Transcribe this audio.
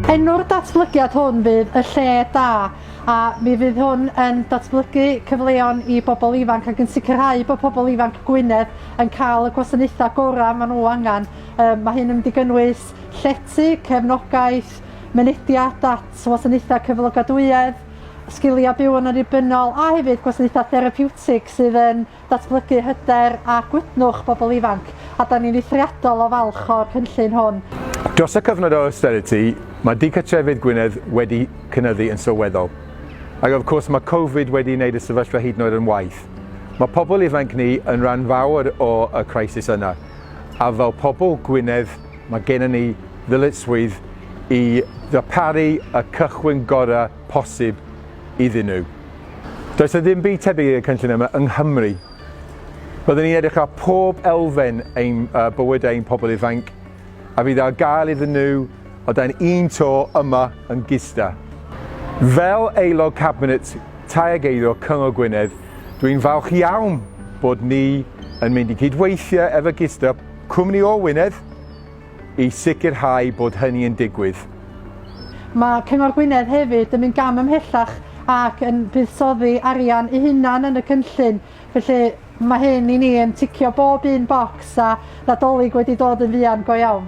Enw'r datblygiad hwn fydd y lle da a mi fydd hwn yn datblygu cyfleon i bobl ifanc ac yn sicrhau bod pobl ifanc Gwynedd yn cael y gwasanaethau gorau maen nhw angen. Um, mae hyn yn mynd i gynnwys llety, cefnogaeth, mynediad at wasanaethau cyflogadwyedd, sgiliau byw yn annibynnol a hefyd gwasanaethau therapiwtig sydd yn datblygu hyder a gwydnwch bobl ifanc, a da ni'n eithriadol o falch o'r cynllun hwn. Dros y cyfnod o austerity, mae dicartrefydd Gwynedd wedi cynyddu yn sylweddol. Ac wrth gwrs, mae Covid wedi wneud y sefyllfa hyd yn oed yn waeth. Mae pobl ifanc ni yn rhan fawr o y crisis yna, a fel pobl Gwynedd, Mae gennym ni ddyletswydd i ddarparu y cychwyn gorau posib iddyn nhw. Does yna ddim byd tebyg i'r cynllun yma yng Nghymru. Byddwn ni'n edrych ar pob elfen ein bywyd ein pobl ifanc a fydd ar gael iddyn nhw o dan un to yma yn Gisda. Fel Aelod Cabinet Tai ac Eiddo Cyngor Gwynedd, dwi'n falch iawn bod ni yn mynd i gydweithio efo Gisda, Cwmni o Wynedd i sicrhau bod hynny yn digwydd. Mae Cyngor Gwynedd hefyd yn mynd gam ymhellach ac yn buddsoddi arian eu hunan yn y cynllun, felly mae hyn i ni yn ticio bob un bocs a Nadolig wedi dod yn fuan go iawn.